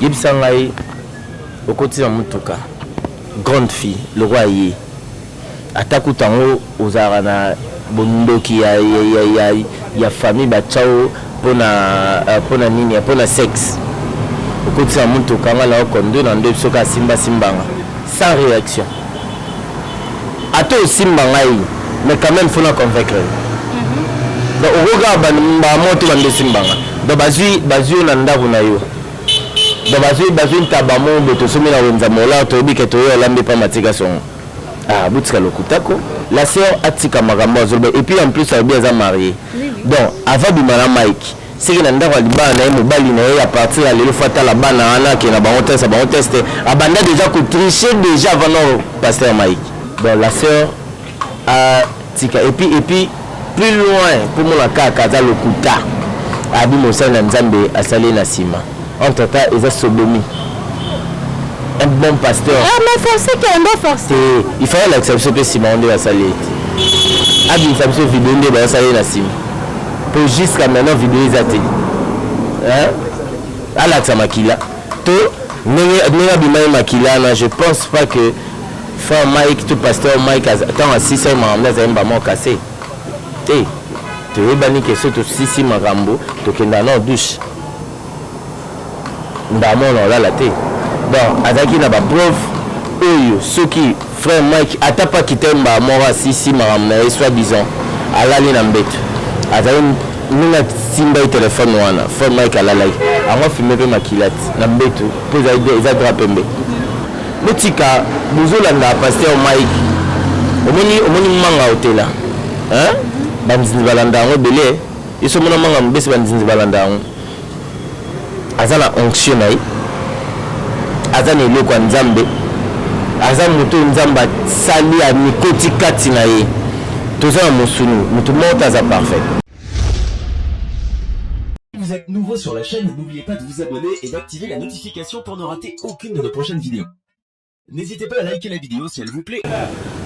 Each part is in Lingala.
Yebisa ngai okoti na mutuka grande fille lokola ye ata kutu yango ozalaka na bondoki ya ya ya ya famille batiao pona pona nini pona sexe okoti na mutuka ngai nao conduire na ndoyi biso kaka simba simbanga sans reaction. Ata osimba ngai mais quand même faut na convaincre yo. Donc okoki kaka ba mbala moko te ba mbesi mbanga. Donc bazwi bazwi yo na ndako na yo. Donc bazwi bazwi ntaba moko boye tosomi na wenza mola toyebi ke toye olambi pa matika songo. Ah botika lokuta ko. La sœur atika makambo azo loba et puis en plus alobi aza mariee. Donc avant abima na Mike seke na ndako ya libala na ye mobali na ye à partir ya lelo faut atala bana wana akenda bango test ya bango test abanda déjà ko tricher déjà avant non pasteur Mike bon la sœur a tika et puis et puis plus loin pour mon kaka aza lokuta abi mosali na nzambe asali na nsima entre temps eza sodomi un bon pasteur ah, mais forcé kendo forcé il fallait lakisa biso mpe nsima yango nde basali ete abimisa biso video nde basali na nsima po jusqu'à maintenant video eza te hein alakisa makila to ndenge ndenge abima ye makila na je pense pas que frère Mike to pasteur Mike tant asisa ye makambo azali mbama okase te toyebani ke so tosisi makambo tokenda na douche Mbala moko na kolala te donc azalaki na ba preuves oyo soki frère Mike ata pas Kitain mbala moko asilisi makambo na ye soit disant alali na mbetu azali ndenge atimbaki telephone wana frère Mike alalaki yango afime pe makila na mbetu po ezali eza drap pembe botika bozolanda pasteur Mike omoni omoni manga otela hein ba nzinzi balanda yango ebele. Yesu amona manga mobesi banzinzi balanda yango aza na onction na ye aza na eloko ya nzambe aza moto oyo nzambe asali amikoti kati na ye toza na mosuni moto moko te aza parfait vous êtes nouveau sur la chaîne, n'oubliez pas de vous abonner et d'activer la notification pour ne rater aucune de nos prochaines vidéos. N'hésitez pas à liker la vidéo s'il vous plaît.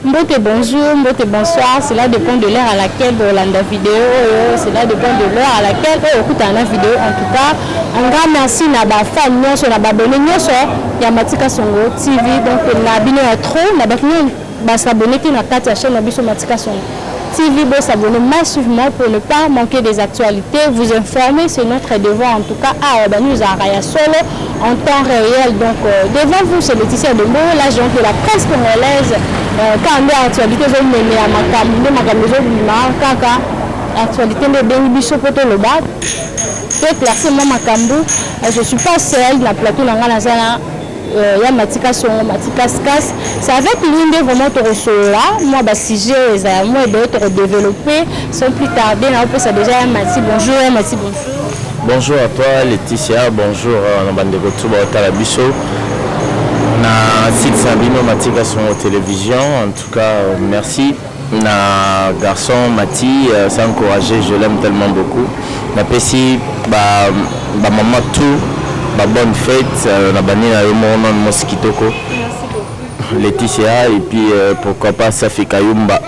Mbote bonjour, mbote bonsoir, cela dépend de l'heure à laquelle bolanda vidéo oyo, cela dépend de l'heure à laquelle oyo okutana na vidéo. En tout cas, un grand merci na ba fans nyonso na ba abonnés nyonso ya Matika Songo TV. Donc na bino ya trop, na ba ba s'abonner te na kati ya chaîne na biso Matika Songo. TV bo s'abonner massivement pour ne pas manquer des actualités, vous informer c'est notre devoir en tout cas awa ba news à ya solo en temps réel donc euh, devant vous c'est Laetitia Dombo la géante de la presse congolaise euh, quand nde actualité zo meme ya makambo nde makambo zo bima kaka actualité nde bengi biso po to loba to classe moi makambo euh, je suis pas seule na plateau na nga na zana Euh, ya matika songo matika skas c'est avec lui nde vraiment tokosolola mwa basujet oyo eza ya mwa ebele tokodeveloppe sans plus tarde naopesa déjà ya mati bonjour ya mati bonjour bonjour à toi laetitia bonjour euh, na bandeko tu baotala biso na site na bino matika songo télévision en tout cas euh, merci na garçon Mathy aza encourager je l'aime tellement beaucoup napesi ba ba maman tout ba bonne fete na bani na yo moko nanu mwasi kitoko Laetitia et puis euh, pourquoi pas Safi Kayumba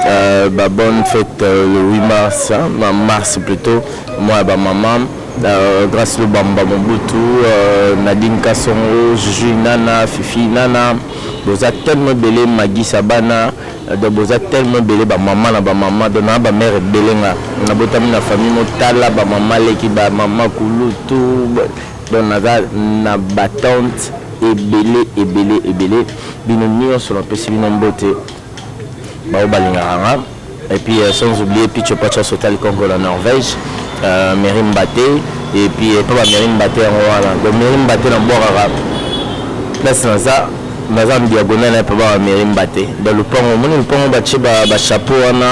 euh, ba bonne fête euh, le 8 mars hein, ma- mars plutôt moi ba maman euh, grâce le bamba mobutu euh, Nadine Kasongo Juju Nana Fifi Nana Boza tellement ebele magisa bana donc boza tellement ebele ba maman na ba maman donc na ba mère ebele nga na botami na famille mo tala ba maman leki ba maman kulutu donc naza na ba tante ebele ebele ebele bino nionso na pesi bino mbote Baoyo balingaka nga et puis sans oublier Pitcho Pacha Sotali Konko na Norvège, Mairie Mbate et puis epa ba Mairie Mbate yango wana donc Mairie Mbate na bwakaka place naza naza na diagonale na epa ba Mairie Mbate donc lopango omoni lopango batie ba ba chapeau wana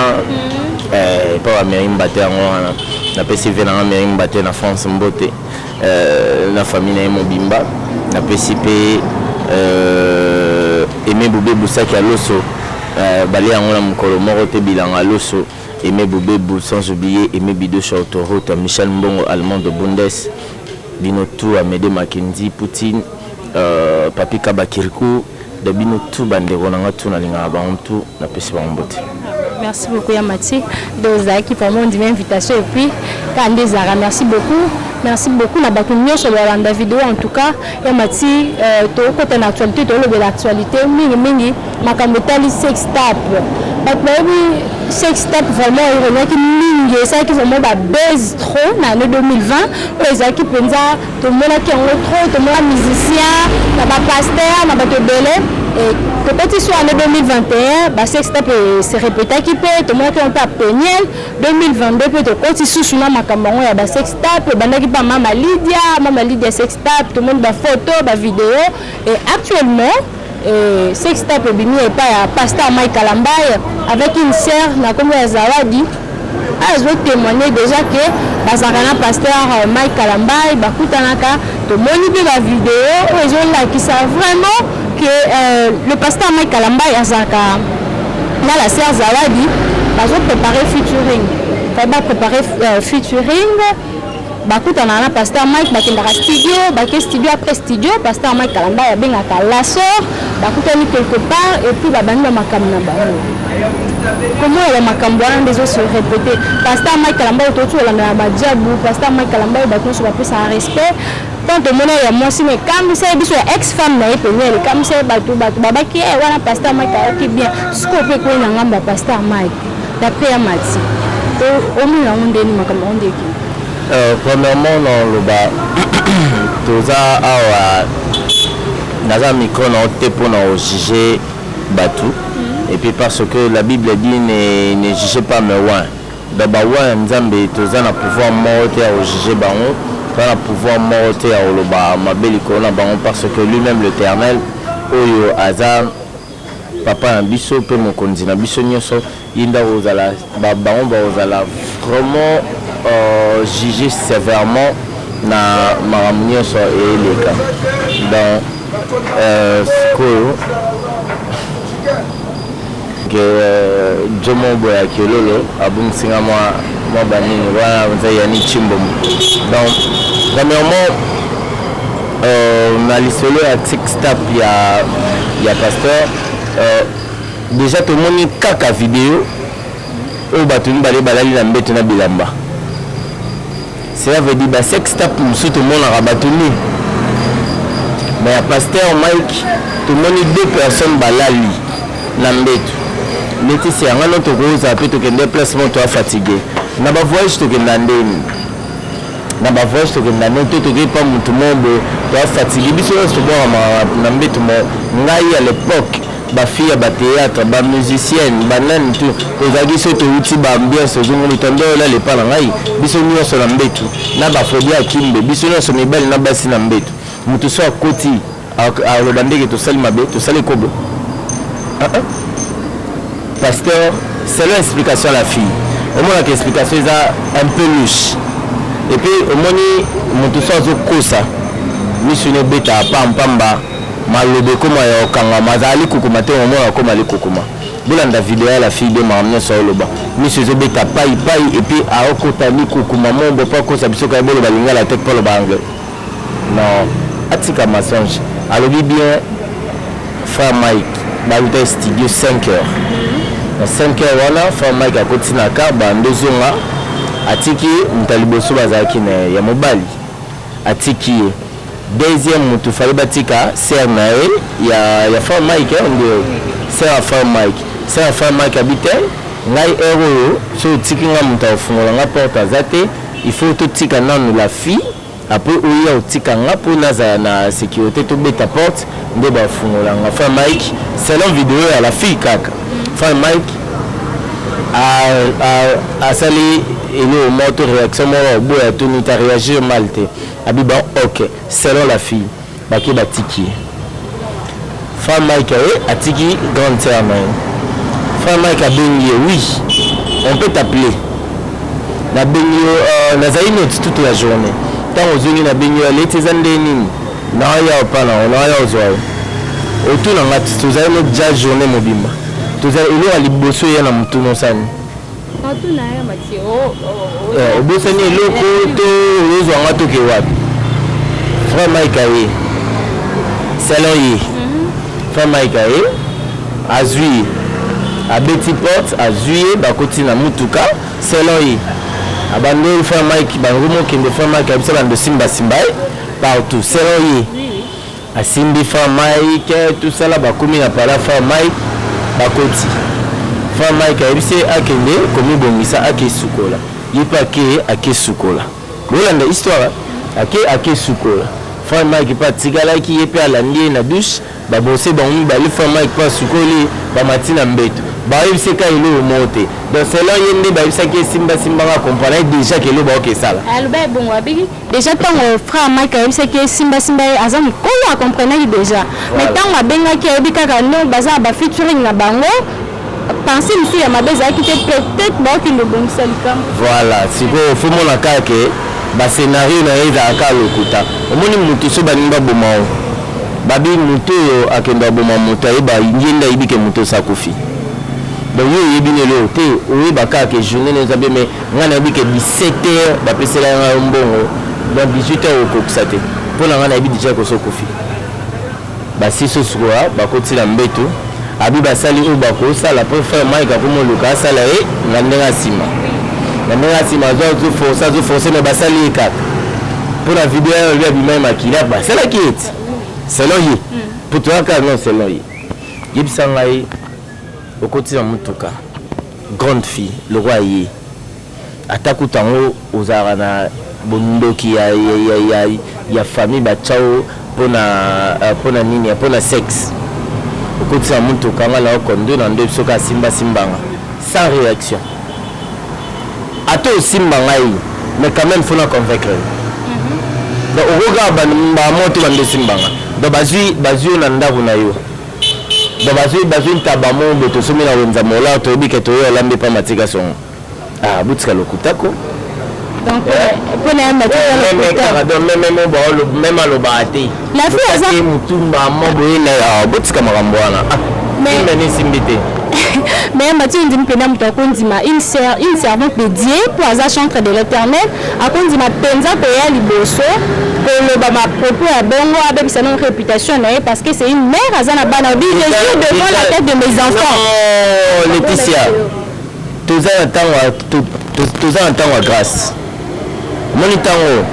epa ba Mairie Mbate yango wana napesi vie na nga Mairie Mbate na France mbote. na famille naye mobimba na pesi pe Aime Bubebu sac ya loso balia yango na mukolo moko te bilanga ya loso Aime Bubebu sans oublier Aime Bido Shautoruta Michel Mbongo Allemand de Bundes bino tout Amede Makenzi Poutine Papy Kaba Kirikou Da bino tout ba ndeko na nga tout na lingaka bango tout na pesi bango mbote. Merci beaucoup ya Mathieu de ozalaki vraiment ondimi invitation et puis kaka nde ezalaka merci beaucoup merci beaucoup na bato nyonso balanda video en tout cas ya Mathieu euh, tokokota na actualité tokolobela actualité mingi mingi makambo etali sex tap bato bayebi sex tap vraiment eregnaki mingi esalaki vraiment babase trop na année 2020 oyo ezalaki mpenza tomonaki yango trop tomona musicien na ba pasteur na bato ebele tokoti so année 2021 basexta mpe se repetaki mpe tomonaki yango mpe ya peniel 2022 mpe tokoti susu na makambo yango ya basextap ebandaki mpe mama lidia mama lidia sextap tomoni bafoto bavideo et actuellement Eh, sex tape ebimi epai ya pasta Mike Kalambay avec une sœur na kombo ya Zawadi azo témoigner déjà que bazalaka na pasteur euh, Mike Kalambay bakutanaka tomoni mpe ba video oyo ezolakisa vraiment que euh, le pasteur Mike Kalambay azalaka na la sœur Zawadi bazo préparer featuring va préparer euh, featuring bakutanaka na pasteur mike bakendaka studio bake studio après studio pasteur mike kalamba abengaka la sœur bakutani quelque part epuis babandi bamakambo na bango komoya bamakambo wana nde ezosi repete pasteur mike kalamba oyo touti kolandana badiabu pasteur mike kalamba oyo bato nyonso bapesaka respect ntan tomona ya mwasi na ekamwisa ye biso ya ex femme na ye pene elekamwisa ye bato bato babaki eh, wana pasteur mike ayaki bien sikoyo mpe ekwei na ngambo ya pasteur mike D'après ya Mati, omona yango ndeni makambo yango ndeki? Euh, premièrement naloba toza awa naza micro na te mpo na ojuge bato mm. et puis parce que la bible dit ne, ne juge pas mais wan donc bawan ya nzambe toza na pouvoir moko te ya ojuge bango toza na pouvoir moko te ya koloba mabe likolo na bango parce que lui-même l'éternel oyo aza Papa na biso pe mokonzi na biso nioso ye nde akozala ba bango bakozala vraiment juge severement na makambo nioso eleka donc sikoyo que Jomo boya kiololo abungisi nga mua mua ba nini wana eza Yannick Tshimbombo donc premièrement Euh, na lisolo ya tikstap ya, ya pasteur euh, deja tomoni kaka video oyo bato mibale balali na mbeto na bilamba cela veut dire basextap mosusu tomonaka bato nini me ya pasteur mike tomoni deux personnes balali na mbetu neti se yanga no tokozala mpe tokende place moko toafatigue na bavoyage tokenda ndeni na ba voyage tokende na nini to tokei pa mutu moko boye toa fatigue biso nionso tobwakama na mbetu moko ngai à l'epoque ba fille ya ba theatre ba musicienne ba nani tout tozalaki soki towuti ba ambiance ozongoli ta nde olala epa na ngai biso nionso na mbetu na ba fobia ya kimbe biso nionso mibali na basi na mbetu mutu soki akoti Aloba ndege tosali mabe tosali ekobo ah, ah. pasteur selon explication ya la fille omonaka explication eza un peu louche epuis omoni moto so azokosa misu ne obeta pampamba maloba ekoma ya kokangama azali kokoma te omona akoma ali kokoma bolanda video ya la fille de makambo nyonso aoloba misu ezobeta pai pai epuis aokota likokoma mombo mpo akosa biso kaya boloba lingala te mpo aloba anglais Non atika mensonge alobi bien frère Mike baluta studio 5 heures na 5 heures wana frère Mike akoti na car bando zonga atiki moto ya liboso bazalaki na ya mobali atiki ye deuxième moto fale batika sœur na ye ya, ya frère Mike eh, ndio sœur ya frère Mike sœur ya frère Mike abi te ngai heure oyo soki otiki ngai moto akofungola ngai porte aza te il faut totika nanu la fille Apres oya otika nga po nazala na securite to beta porte nde ba fungola nga Franc Mike selon video ya la fille kaka Franc Mike asali eloko moko to reaction moko oboya tuni ta reagir mal te abi bon ok selon la fille Bake batiki Franc Mike aye atiki grande sœur na ye. Franc Mike abengi ye oui on peut t'appeler nabengi yo euh, nazali neti toute la journée ntango ozongi nabengi yo aleti eza nde nini naoya opa na naoya ozwa yo otuna nga tozali no ja journée mobimba tozali eloko ya liboso eya na motuna osani Eh, obosani eloko to oyozwa nga toke wapi frère mike aye salon ye mhm. frère mike aye azwi ye abeti porte azwi ye bakoti na motuka salon ye abandi oyo frère mike bango mokende frère mike abisa bando simbasimba ye partout salon ye Asimbi franc Mike tout ça là bakomi na pala franc Mike bakoti franc Mike ayebisi ye akende komibongisa ake sukola ye mpe ake ake sukola bolanda histoire ake ake sukola franc Mike mpe atikalaki ye mpe alandi ye na douche babose bango mibale franc Mike mpe asukoli bamati na mbeto bayebisi ka eloko moko te donc selon ye nde bayebisaki ye simba simba nga comprendre ye déjà ke eloko baokesala Dejà tango frère Mike ayebisaki ye simba simba ye aza mukolo a comprenaki dejà mais tango abengaki ayebi kaka non baza na ba featuring na bango pensee mosusu ya mabe ezalaki te peut etre baokende obongisa likambo voilà sikoyo faut mona kaka ke ba scenario na ye ezalaka kaka lokuta omoni mutu so balingi baboma yo babi mutu oyo akende aboma moto ayeba ye nde ayebi ke moto osi akufi donc yo oyebi na eloko te oyeba kaka ke journee na yo eza bien mais Nga nayebi que 17 heures ba pesela nga yo mbongo donc 18 heures okokisa te po na nga nayebi dejà que osi okufi ba si so sikola ba koti na mbetu abi ba sali oyo ba ko sala po frère Mike akomi oluka asala ye na ndenge ya sima na ndenge ya sima azo azo forcer azo forcer mais ba sali ye kaka po na video ya lui abima ye makila ba sala ki eti selon ye po toyaka non selon ye yebisa ngai okoti na mutuka Grande fille lokola ye ata kutu yango ozalaka na bondoki ya ya ya famille ba tia yo pona pona nini pona sexe okotisi na mutuka nga na yo conduire na ndoyi biso kaka simba simba nga sans reaction ata osimba ngai mais quand meme faut na convaincre yo donc okoki kaka mbala moko te banda osimba nga donc bazui bazui yo na ndaku na yo Bon bazui bazui ntaba mo bo tosumi na wenza mola toyebi ke toyo alambi pa matika songo ah butika lokuta ko donc mpo na ye matikameme alobaka te lafiaza motumba mo boye na ah, botika makambo wana ah, mais esimbi te mais mathieu ndimi mpenza moto akondima une servante de dieu mpo aza chantre de l'éternel Akondima penza koya liboso koloba ba propos ya bongo abebisa nanu reputation na ye parce que c'est une mère aza na bana obi je jure devant la tête de mes enfants. Non Laetitia toza na tango toza na tango ya grâce moni tango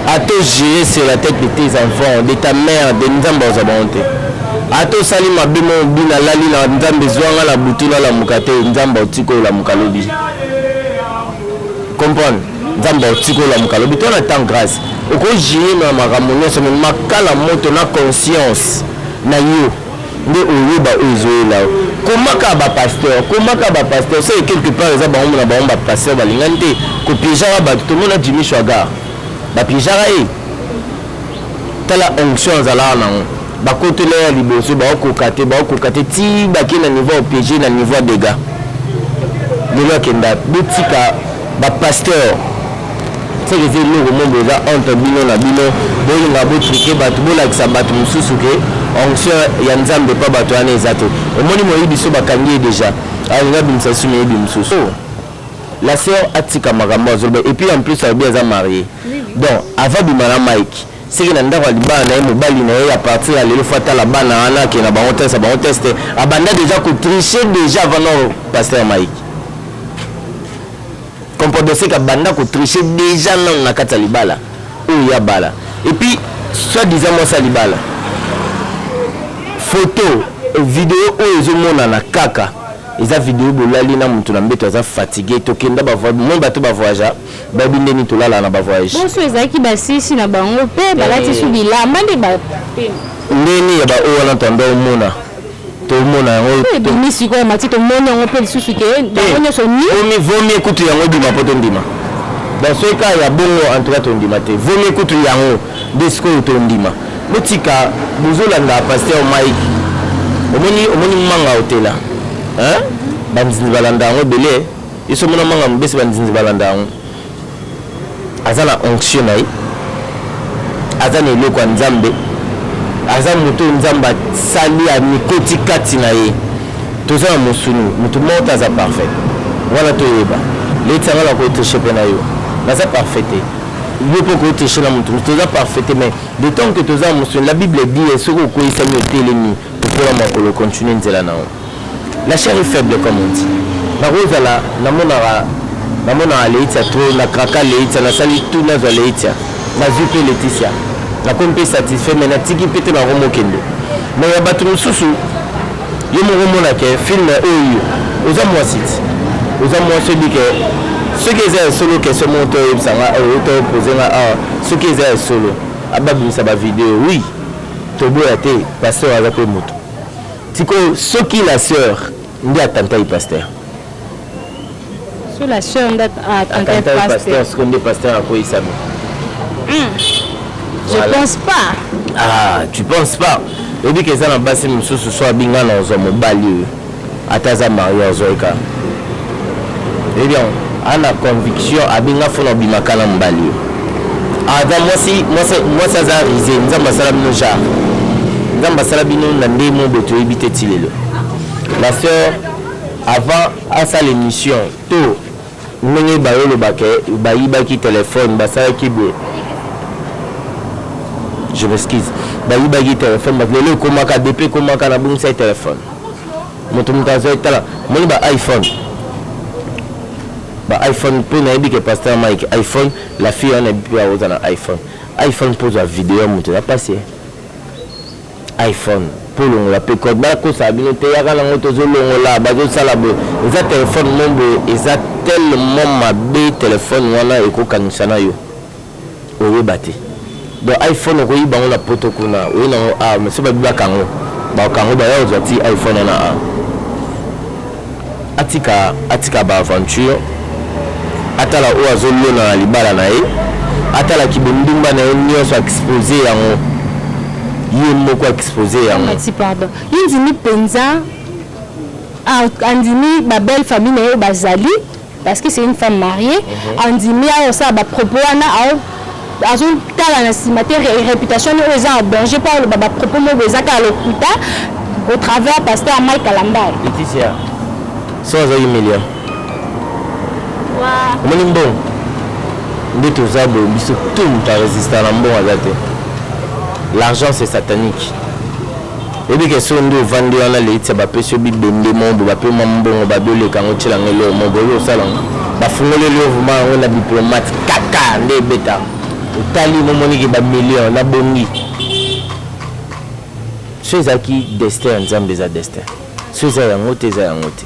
ata ojure sur la tête de tes enfants de ta mère de nzambe aza bango te ata osali mabe mo obi nalali na nzambe zwanga na butu nalamuka te nzambe otiki olamuka lobi Comprendre nzambe au tiko la mukala bito na temps grace oko jire na makambo nionso mais makala moto na conscience na yo nde oyeba oyo ezoyela yo komaka ba pasteur komaka ba pasteur soki quelque part eza bango na bango ba pasteur balingani te kopiejaka bato tomona jimmy swagar bapiejaka ye tala onction azalaka nango bakotela ya liboso baokoka te baokoka te ti bake na niveau ya pg na niveau ya dega lelo akenda botika bapasteur seke eza eloko moko eza entre bino na bino bolinga botrike bato bolakisa bato mosusu ke onction ya nzambe mpa bato wana eza te omoni moyebi biso bakangi ye deja alinga bimisa lisusu moyebi mosusu oh. La sœur atika makambo azo loba et puis en plus alobi aza marie donc avant bima na Mike seke na ndako ya libala na ye mobali na ye ya partir ya lelo fata la bana wana ke na bango test bango test abanda deja ko tricher deja avant non pasteur Mike comprendre seke abanda ko tricher deja non na kati ya libala oyo ya bala et puis soit disant moi ça libala photo video oyo ezomonana kaka Eza video bolali na mutu na mbetu aza fatigue tokenda ba voyage bomoni bato ba voyage bayebi nde nini tolalaka na ba voyage. Bonso ezalaki basisi na bango pe balati su bilamba nde ba pema. Ndeni ya ba oyo wana tanda omona tomona yango ebimi sikoyo mati tomoni yango mpe lisusu ke yango nyonso niomi vomie kutu yango ebima mpo tondima donc soki kaka ya bongo en tout cas tondima te vomie kutu yango Nde sikoyo tondima botika bozolanda pasteur Mike omoni omoni manga otela hein banzinzi balanda yango ebele yeso omona manga mobesi banzinzi balanda yango aza na onction na ye aza na eloko ya nzambe aza moto oyo nzambe asali amikoti kati na ye toza na mosuni moto moko te aza parfait wana toyeba leti yango na kotriche mpe na yo naza parfait te yo mpe okoki triche na moto mosu toza parfait te mais de temps que toza mosuni la bible dit eh, soki okweisami otelemi lokola makolo continue nzela na yo la chair est faible comme on dit nakozala namonaka namonaka leitia tro na kraka leitia nasali tu nazwa leitia nazwi mpe leticia nakomi mpe satisfait mais natiki mpe te nakomokende mais ya bato mosusu Yo moko mona ke film oyo oza mwasi ti oza mwasi oyebi ke soki eza ya solo question moko to oyebisa nga oyo to pose nga awa soki eza ya solo ababimisa ba video oui toboya te pasteur aza pe moto sikoyo soki la sœur nde atantaki pasteur sur la sœur nda attentat pasteur siko nde pasteur akoyisami hmm. je pense pas ah tu penses pas oyebi ke eza na basi mosusu so abinga na ozwa mobali oyo ata aza marie azoyika oyebi yango ana conviction abinga fona obimaka na mobali oyo aza mwasi mwasi aza rise nzambe asala bino genre nzambe asala bino na ndenge mobo toyebi te ti lelo la sœur Avant asala emission to ndenge bayo loba ke bayibaki telephone basalaki boye je m'excuse bayibaki telephone but lelo ekomaka depuis ekomaka nabungisaki telephone moto moto azali tala moni ba iphone ba iphone mpo nayebi ke pasteur mike iphone la fille wana ebi mpe aoza na iphone iphone mpo ozwa video ya moto eza mpasi iPhone po longola pe code ba kosa bino te yaka na ngo tozo longola bazo sala boye eza telephone mo boye eza tellement mabe telephone wana eko kangisa na yo oyeba te donc iPhone oko yiba ngo na poto kuna oye na ngo ah mais so ba bibaka ngo ba kango ba ya ozwa ti iPhone na ah Atika atika ba aventure atala oyo azo lona na libala na ye atala ki bondumba na ye nionso expose yango ye moko expose yango. Alexi pardon ye ndimi penza andimi ba belle famille na ye oyo bazali. parce que c'est une femme mariée mhm. andimi ayo osala bapropos wana azotala na nsima te réputation oyo eza en danger mpo aloba bapropos moko eza kaka lokuta au travers pasteur mike alambay leticia so aza humilia omoni mbongo nde toza boye biso tout moto aresista na mbongo aza te l'argent c'est satanique Oyebi ke soki nde ovandi wana Leitsa bapesi yo bibende moko boye bape mwa mbongo babi oleka yango otyela yango eloko moko boye oyebi kosala yango bafungoleli yo vrema yango na diplomate kaka nde ebeta otali momoni ke bamillion nabongi so ezalaki destin ya nzambe eza destin so eza yango te eza yango te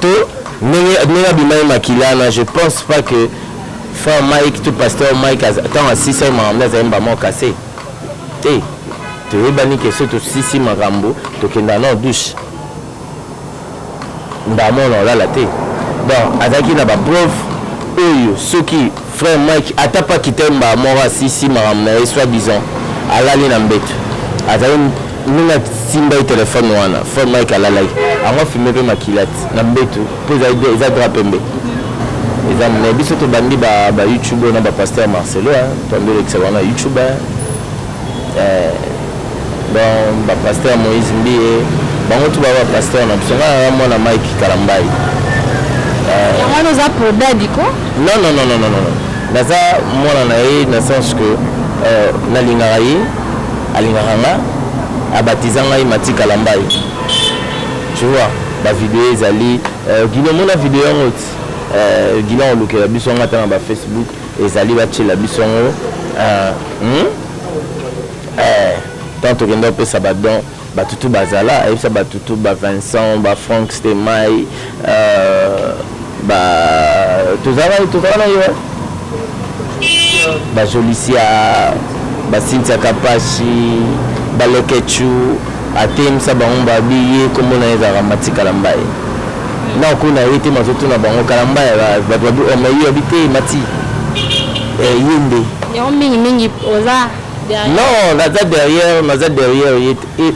To ndenge ndenge abimaki makila na je pense pas que frère Mike to pasteur Mike tango asisaki makambo azali mba moko kase te toyebani ke soki tosisi makambo tokenda na douche mbala moko na olala te donc azalaki na ba preuve oyo soki Frère Mike ata pa kitai mbala moko asisi makambo na ye soit disant alali na mbetu azali ndenge atimbaki telephone wana frère Mike alalaki yango afume pe makila ti na mbetu po ezali eza drap pembe eza mais biso tobandi ba ba youtube oyo na ba pasteur Marcelo hein toandi olekisa bango na youtube hein Eeh donc ba pasteur Moïse mbiye bango tout baza ba pasteur na biso ngai naza mwana Mike kalambayi eeh. Yango wana oza pro Dady ko? Non non non non non naza mwana na ye na sens que nalingaka ye alingaka nga a batiza ngai Mathy kalambayi tu vois ba video ezali Guylli omona video yango ti eeh Guylli akolukela biso yango ata na ba Facebook Ezali ba tiela biso yango eeh hum eeh tant tokenda kopesa ba don batu tout bazala ayebisa batu tout ba Vincent ba Franck stemay eeh ba tozalaka tozalaka na yo hein ba jolicia ba cynthia kapashi ba leketshou Atemisa bango ba bi ye kombo naye ezalaka Mathy Kalambaye nao kuna ye te mazo tuna bango Kalambaye batu ba bi oh mais ye abi te Mathy eh ye nde. Yango mingi mingi oza derrière. Non naza derrière naza derrière ye te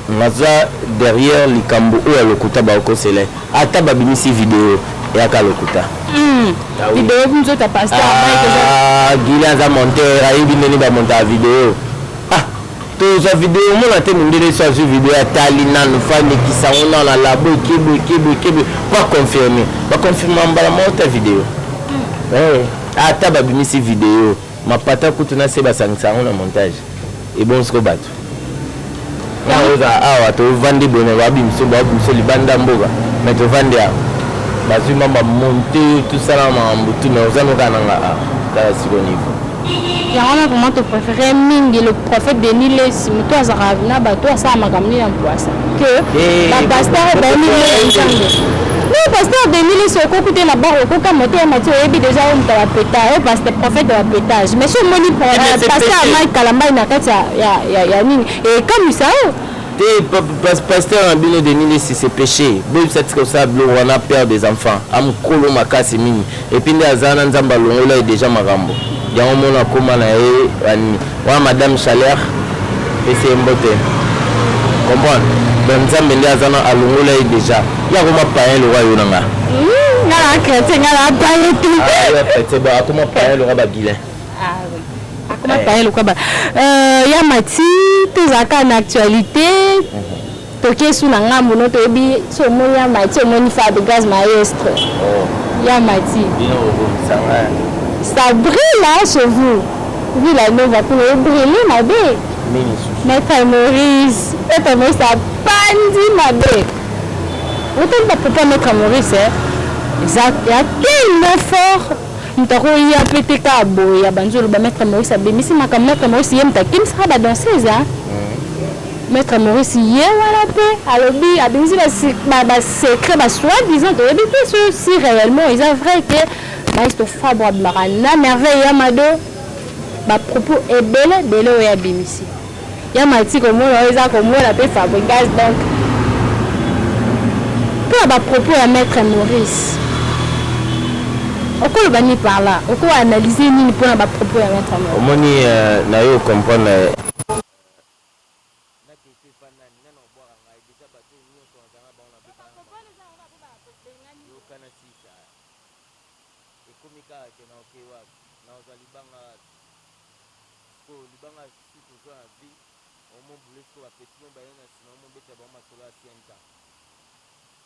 naza derrière likambo oyo ya lokuta bao kosela ye ata ba bimisi video yaka lokuta. Hum video bi nzoto ya pasteur Mike eza. Ah Guilly aza monteur ayebi ndenge ba montaka video ah Tozwa video omona te mundele esi azwi video atali nanu fani kisango nanu alabo ekebo ekebo ekebo po aconfirme baconfirma mbala moko ta video hmm. eh, ata babimisi video mapata kutu na se basangisa yango na montage ebongisiko bato naoza awa tovandi bone babimiso babimiso libanda mboka me tovandi awa bazwi mamba monte tosala makambo tu me oza nokananga awa tala siko niveau Yango wana vraiment to prefere mingi le prophète Denis Lessi mutu azaka na bato asala makambo nini na mpwasa que eh, ba pasteur bayebi nini nzambe no pasteur Denis Lessi okoki te na baro okoka moto ya mati oyebi deja oyo moto ya peta oyo pasteur prophète ya petage mais so omoni eh, pasteur Mike Kalambay na kati ya ya ya nini ekamwisa eh, yo te pasteur na bino Denis Lessi c'est péché boyebisa tika osala biloko wana père des enfants amokolo makasi mingi Et puis nde aza na nzambe alongola ye deja makambo yango mona akoma na ye banini wana madame chaleur pesi ye mbote comprendre donc nzambe nde aza na alongola ye deja ye akoma payen lokola yo na nga hmm, nga na chrétien nga na paye te ah, chrétien bon akoma payen lokola bagilain ah, akoma payen lokola ba euh, ya mati tozalaka na actualité mhm. Toke sous na ngambu no toyebi so omoni ya mati so omoni fab gaz maestro ya mati ça brille là chez vous villa nova kuna e brille mabe maître Maurice maître Maurice apandi mabe otali ba papa maître Maurice eza ya tellement fort moto akoya mpe te ka boye ya banzolo ba maître Maurice abimisi makambo maître Maurice ye moto akimisaka ba danseuse Maitre Maurice ye wana pe alobi abimisi ba secret ba soit disant toyebi te ce si reellement eza vrai que Maestro Fabro abimaka na merveille ya Mado ba propos ebele bele oyo abimisi ya mati komona oyo eza komona pe Fabrigaz donc mpo ba propos ya Maitre Maurice okoloba ni par là oko analyser nini mpo na ba propos ya Maitre Maurice omoni euh, na yo comprendre N'a dote pas nani nani akobwaka ngai dejà batu oyo nioso nazala n'a bango nabeta n'a bango yoka n'a silisa ekomi kaka que naoke wapi nakozwa libanga wapi sikoyo libanga susu tozwa n'a vie omo boule sikoyo ba petit oyo baye n'a sima omo betela bango masolo ya ancien temps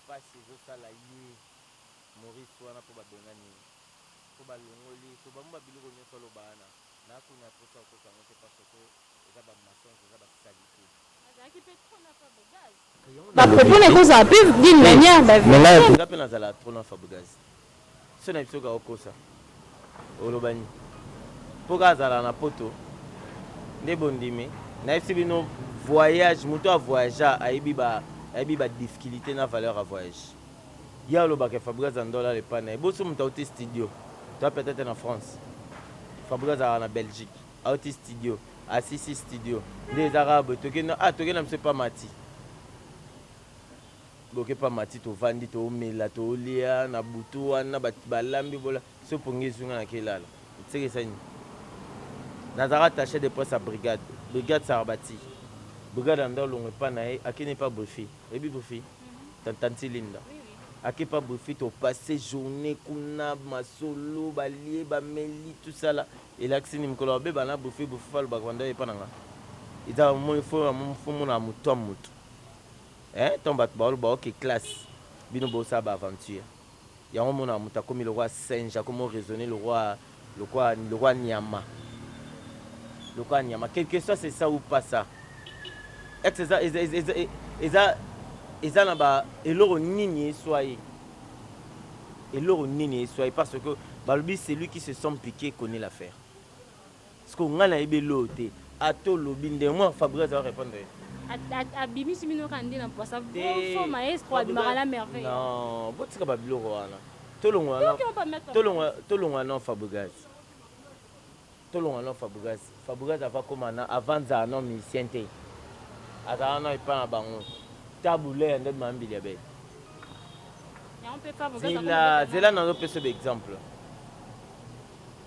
pasi ezo sala ye Maurice wana po ba bengani ye po ba longoli ye to ba mwa biloko nioso aloba wana n'a koni aposa okosa yango te parce que Eza ba mensonges eza ba salite. Azalaki pe trop na fabregaz. Ba propos na ye eko zala pe d'une manière ba verite. Nga pe na zalaka trop na fabregaz soeur na biso kaka okosa oloba nini po kaka azalaka na poto nde bo ndimi na yebisi bino voyage mutu a voyagea ayebi ba ayebi ba diffculite na valeur ya voyage ye alobaka ke fabregaz a ndola le pas na ye bo so mutu awuti studio toi peut etre na France fabregaz azalaka na Belgique Auti studio ah si si studio nde eza kaka boye toke no ah toke na biso epa Mathy boke pa Mathy tovandi toomela toolia na butu wana batu balambi bola so pongi ezui nga nake lala seke esa nini nazalaka attache de presse ya brigade brigade Sarabati brigade ya ndao longo epa na ye ake ne pa Brifi oyebi Brifi ta tanti Linda ake pa Brifi to passe journee kuna masolo balie bameli tout ça la Elakisi nini mukolo ba beba na buffet bufufu alobaka ba ndai epa na nga eza omoni faut na faut monaka mutu to mutu eeh tango batu ba loba ok classe bino bo sala ba aventure yango omonaka mutu akomi lokola singe akomi o raisonner lokola lokola lokola niama lokola niama que que soit c'est ça ou pas ça ex eza eza eza eza eza na ba eloko nini eswa ye. Eloko nini e soye parce que balobi celui qui se sent pique connait l'affaire. Sikoyo ngai nayebi eloko te ata olobi nde moi Fabrigas azo repondre yo? Abimisi bino kaka nde na mpwasa faux maestro abimaka na merveille. Non botika ba biloko wana tolongola na tolongola na Fabrigas. Tolonga no Fabregas. Fabregas ava koma na avant zala no musicien te azala no epa na bango tabu ley nde ma mbili ya bete zela zela nazo pesa yo ba exemple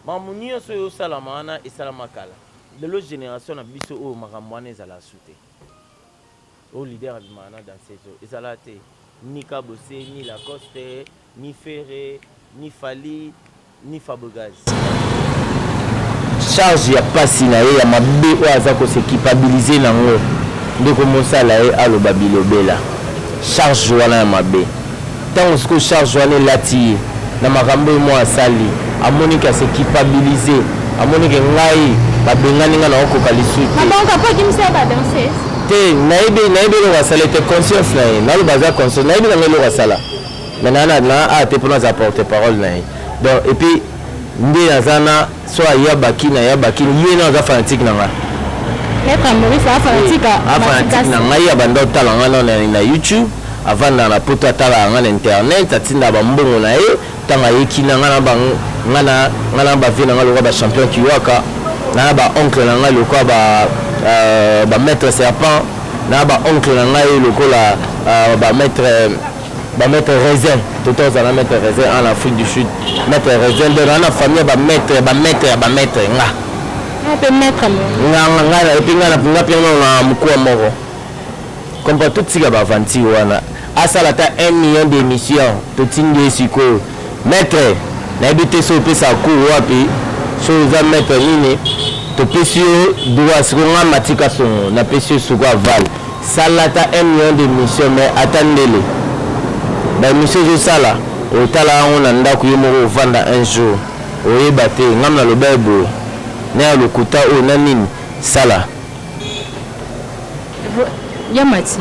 mamu nioso ezo salama wana esalama kala lelo generation na biso oyo makambo wana ezala su te. Oyo leader abimaka na danseuse oyo ezalaka te ni kabose ni lacoste ni ferre ni fally ni fabrigaz. Charge ya pasi na ye ya mabe oyo aza ko se culpabiliser nango nde eko mosala ye aloba bilobela. Charge wana ya mabe. Tango sikoyo charge wana elati ye na makambo ye moko asali, amoni que a se culpabiliser, amoni que ngai babengani ngai nako koka lisusu te. Donc après akimisi ye ba danseuse? Te, nayebi, nayebi eloko asali te, conscience na ye, naloba aza conscience, nayebi na ngai eloko asala mais na, na, na, ah te po nazala porte parole na ye donc et puis. Nde aza na soit aya bakin aya bakin ye na aza fanatique na nga. Maître ya Maurice a fanatique ya Matika. A fanatique na ngai abanda otala nga na na YouTube avanda na poto atala nga na internet atinda ba mbongo na ye tango aye kina nga na ba nga na nga na ba vieux na nga lokola ba champion kiwaka nga na ba oncle na nga lokola ba euh, ba maître serpent na ba oncle na ngai lokola euh, ba maître Ba maitre raisin toto aza na maitre raisin en Afrique du Sud maitre raisin nde na na famille ba maitre ba maitre ya ba maitre nga nga pe maitre nga nga nga na epi nga na nga pe nga na mukua moko comme pas tout tika ba aventure wana asala ta 1 million d'émission to tindi sikoyo Maitre nayebi te soki opesaka cours wapi soki oza maitre nini topesi yo droit sikoyo nga Mathieu Kasongo napesi yo sikoyo aval sala ata un million de mission mais ata ndele ba emission ozosala otala yango na ndako yo moko ovanda un jour oyeba te ngam naloba ye boye na ya lokuta oyo na nini sala ya mati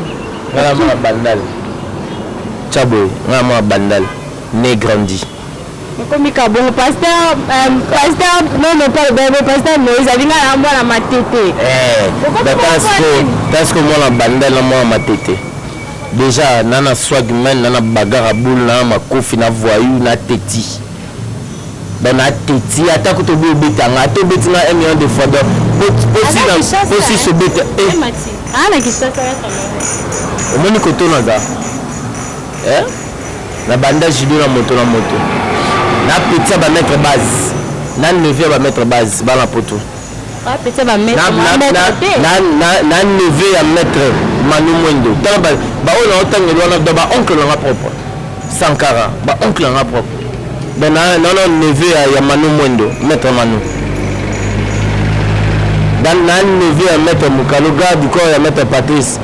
ngana mwa bandal chaboy ngana mwa bandal ne grandi okomi ka bongo pasteur euh, pasteur non non pas bebe pasteur moïse alinga na mwana matete eh, tansko mwana bandal na mwana matete déjà nana swagman nana bagara boule nana makofi na voyou na teti Bon na teti ata kutu obi obeta nga ata obeti nga un million de fois donc posi sobeta omoni koto naza eh? na banda judo na moto na moto na petit ya bamaître base na neveu ya bamaître base bana poto na neveu ya maître manu mwendo tala baoyo naotangeli wana do baoncle na nga propre sankara baoncle na nga propre donc nano neveu ya manu mwendo maître manu na neveu ya maître mokalo garde du corps ya maître patrice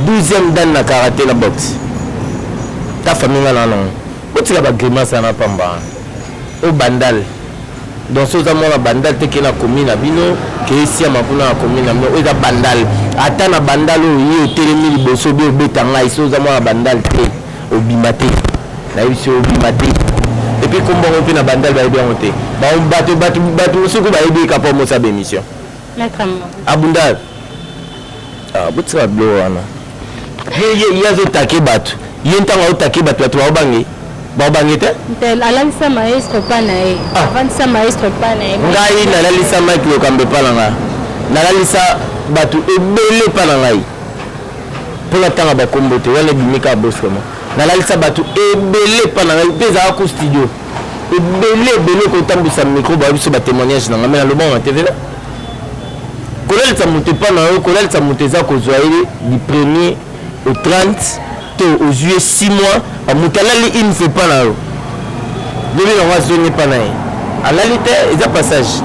12e dane na karate na boxe ta famille nga nanango botika bagrimace wana pamba o bandale Donc soki oza mwana bandal te ke na commune na bino ke esiama kuna na commune na bino oyo eza bandal ata na bandal oyo ye otelemi liboso obi obeta ngai soki oza mwana bandal te obima te nayebisi obima te epuis kombo yango mpe na bandal bayebi yango te bato mosuku bayebi ye kapa omosa ba émission abunda ah, botika bilo wana ye azotake bato ye ntango aotake bato bato baobange baobange te alalisa maestro pa na ye ah. avandisa maestro pa na ye ngai nalalisa mike lokambo epa na ngai nalalisa bato ebele epa na ngai mpo natanga bakombo te wana ebimi kaka bosrema nalalisa bato ebele epa na ngai mpe ezalaka ku studio ebele ebele kotambwisa micro bayebi biso batémoignage na ngai me nalobango na tv kolalisa moto epa na yo kolalisa moto eza kozwa ye du premier au 30 to ozwi ye 6 mois moto alali une fois epa na yo lobi nango azongi epa na ye alali te eza passage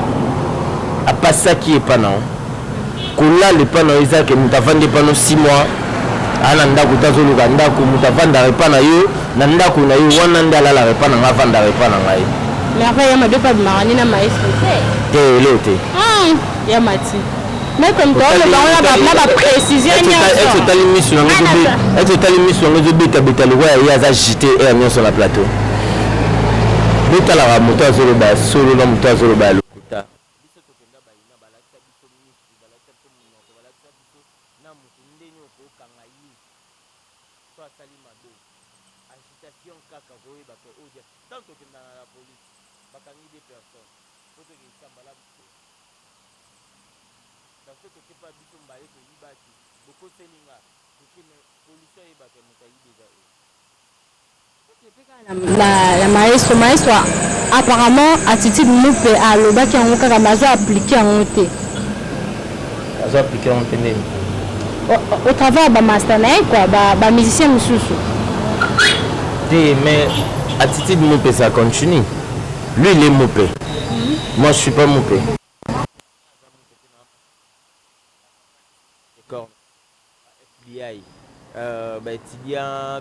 apasaki epa na yo kolala epa na yo eza ke moto avandi epa no si mwa aa na ndako te azoluka ndako moto avandaka epa na yo na ndako na yo wana nde alalaka epa na ngai avandaka epa na ngai merveille ya mabe epa bimaka nde na maestro te te elo te hmm, ya mati maître moto aolobango na baprécision nyonso otali miso yango ete otali miso yango ezobetabeta lokola ye aza jite heure nyonso na plateau botalaka moto azoloba solo na moto azoloba Biso tokenda bayina balakisa biso misu balakisa biso munoko balakisa biso na mutu ndeni oko kanga ye soki asali mabe agitation kaka okoyeba ke oyo dia tango tokenda na la police bakangi de personnes po tokendisa mbala biso baso toke pa biso mbale toyibaki bokoseli nga toke me police ayeba ke mutu ayibi eza ye. ya maestro maestro apparemment attitude mupe alobaki yango kaka mais azo appliquer yango te azo appliquer yango te nini au travail ya bamasta na ye kua bamusicien ba mosusu te mais attitude mupe ça continue lui il est mupe moi je suis pas mupe FBI, euh, bah, étudiant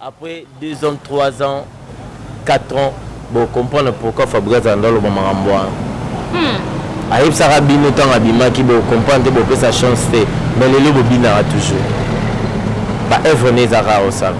Après deux ans, trois ans, quatre ans bo comprendre pourquoi Fabrigas azalanda aloba makambo wana. Hum. Ayebisaka bino tango abimaki bo comprendre te bopesa chance te mais lelo bobinaka toujours. Ba œuvres naye eza kaka kosala.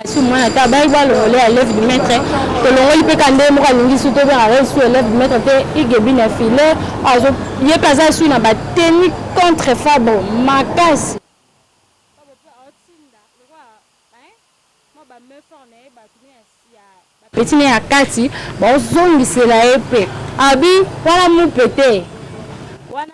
Kasi mwana ta bayaki balongole ya lève du maître tolongoli mpe ka ndenge moko alingi su tobengaka ye su elève du maître te igebine ya file azo ye mpe aza su na ba tenu contre fabro makasi petit ne ya kati bazongisela ye mpe abi wana mupe te wana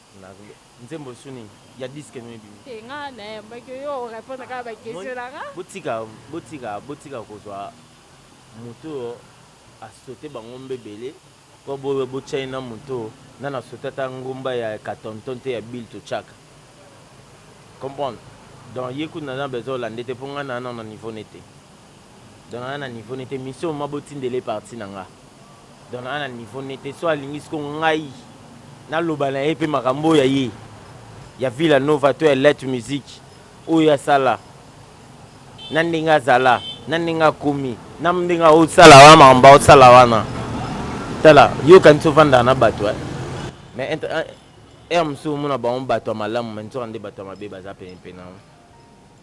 Na nzembo sous nini? Ya disque nini ebimi? Te nga na yemba ke yo o repondre kaka ba question na nga. Botika botika botika kozwa mutu oyo a sauter ba ngomba ebele po bo botia ye na mutu oyo nanu a sauter ata ngomba ya katonton te ya bill tochaka comprendre donc ye kutu naza na besoin olande te po nga naza nanu na niveau ne te. donc naza na niveau nete mission mama botindela ye partie na nga donc naza na niveau nete so alingi siko ngai naloba na ye pe makambo oyo ya ye ya Villa Nova to ya Let Music oyo asala na ndenge azala na ndenge akomi na ndenge aosala wana makambo aosala wana tala yo kanisi ofandaka na bato eh? mais ere eh, eh, mosusu omona bango bato ya malamu mais nzoka nde bato ya mabe baza penepene yango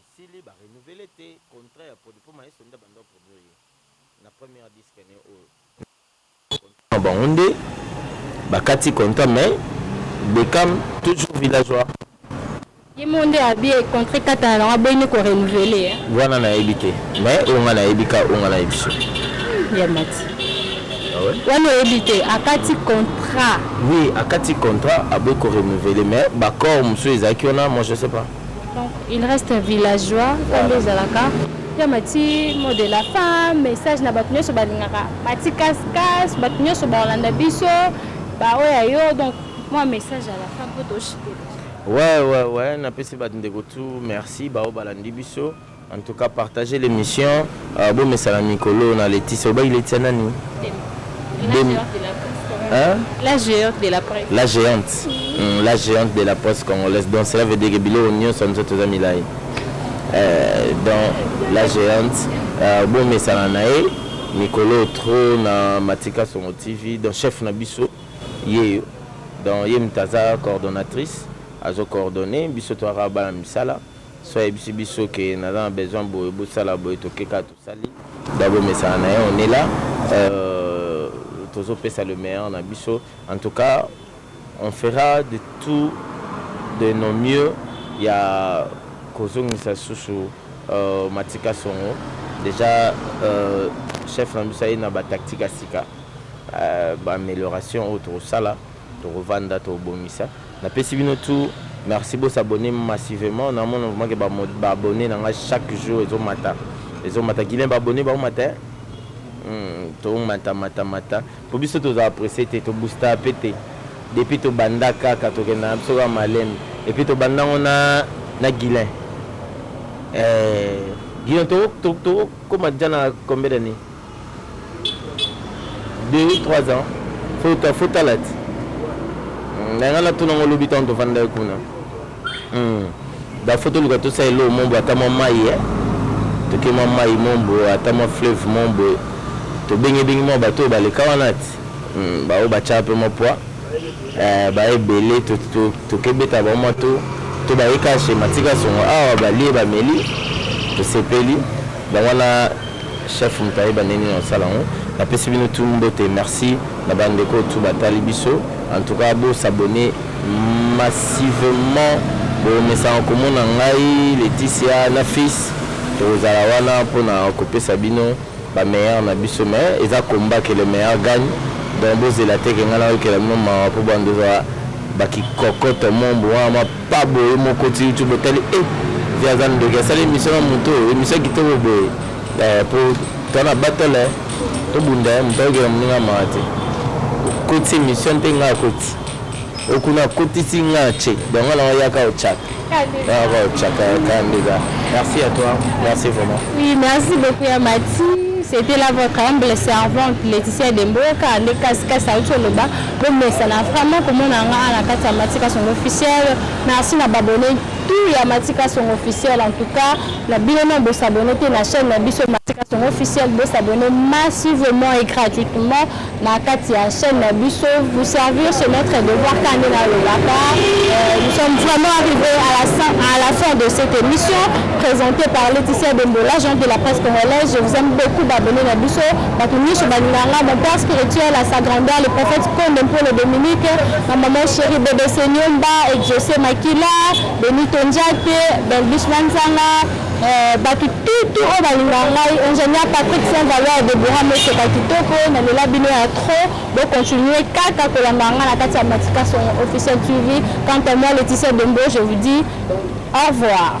Esili ba renouveler te contrat ya produit po Maestro nde abanda ko produire ye na première disque ne oyo contrat na bango nde ba kati contrat mais Beckham toujours villageois. Ye moko nde a bie contrat ekatana nango aboyi nde ko renouveler hein. Wana na yebi te mais oyo nga na yebi ka oyo nga na yebi soki. Ya Mathy. Ah ouais? Wana oyebi te akati contrat. Oui akati contrat aboyi ko renouveler mais b'accords mosusu ezalaki wana moi je sais pas. Donc il reste villageois oyo nde ezalaka ya mati mot de la femme message na bato nyonso balingaka mati kaskas bato nyonso bakolanda biso baoyo ya yo donc mwa message ya la femme mpo toshite Ouais, ouais, ouais, napesi bandeko tu merci baoyo balandi biso. En tout cas partager l'emission bo mesana mikolo na Laetitia obaki Laetitia nani? Demi hein? La géante de la presse. La géante. Mm, la géante de la presse congolaise. Donc cela veut dire que biloko nyonso nzoto toza milayi. Euh, donc la géante euh, bo mesana na ye mikolo trop na Matika Songo TV donc chef na biso yeyo donc ye mtaza coordonnatrice azo coordonner biso toaka bana misala Soki ayebisi biso que naza na besoin boye bosala boye toke kaka tosali donc bomesana naye on est là euh tozo pesa le meilleur na biso en tout cas on fera de tout de nos mieux ya kozongisa lisusu euh matika songo dejà euh chef na biso aye na ba tactique ya sika euh ba amelioration oyo tokosala toko vanda tobongisa Na pesi bino tout merci bo s'abonner massivement na mona vraiment que ba abonnes na nga chaque jour ezo mata ezo mata guilain ba abonnes ba mata hein Hum to mata mata mata po biso to za presse te to booster pe te depuis to banda kaka to kenda na biso kaka malembe et puis to banda ngo na na guilain eh guilain to to to koma dejà na combien d'années deux trois ans faut faut tala ti na nga natuna ngo lobi ntango tovandaki kuna hmm. bafo toluka tosala eloo mombo ata mwa mai eh. toke mwa mai mombo ata mwa fleuve mombo tobengebengi mwa bato oyo baleka wana ti hmm, baoyo batyaka mpe mwa pwa Eh ba ebele toke beta bango mua tour to baye kaka chez matika songo awa balie bameli tosepeli donc wana chef mutu ayeba ndenge nini akosala yango napesi bino tout mbote merci na ba ndeko oyo tout batali biso en tout cas bo s'abonner massivement bomesana komona ngai Laetitia na fils tokozala wana pona kopesa bino Ba meilleurs na biso mais eza combat que le meilleur gagne donc bozela te que ngai nayokela bino mawa po banda ozala ba kikokoto moombo wana mwa pa boye moko oti youtube otali eh vieux aza ndoki asali emission na moto oyo emission ya kitoko boye eh po toza na battle eh tobunda eh moto ayokela moninga mawa te okoti emission te ngai akoti Okuna akotisi nga na ce donc nga na nga yaka ochaka yaka ochaka yaka ndeka merci à toi merci vraiment oui merci beaucoup ya mati c'était là votre humble servante Laetitia Demboka nde kasi kasi auti oloba bomesana vraiment komona nga na kati ya mati kasongo officiel merci na babone tout ya mati kasongo officiel en tout cas na bino na bosabone te na chaîne na biso mati kasongo officiel bosabone massivement et gratuitement na kati ya chaîne na biso vous servir chez notre devoir kande na lobaka euh, nous sommes vraiment arrivés à la, à la fin de cette émission présentée par Laetitia Dembola Jean de la presse congolaise je vous aime beaucoup babone na biso bato nyonso balinganga mon père spirituel à sa grandeur le prophète Konde Mpolo Dominique ma maman chérie Bebe Senyomba Exaucé Makila Benito Njate Belbis Manzanga Eh, batu tout tout oyo balinga ngai ingénieur Patrick Saint Valeur de Boura Meseka kitoko na lela bino ya trop bo continuer kaka kolanda ngai na kati ya Matika son officiel TV quant à moi Laetitia Dembo je vous dis au revoir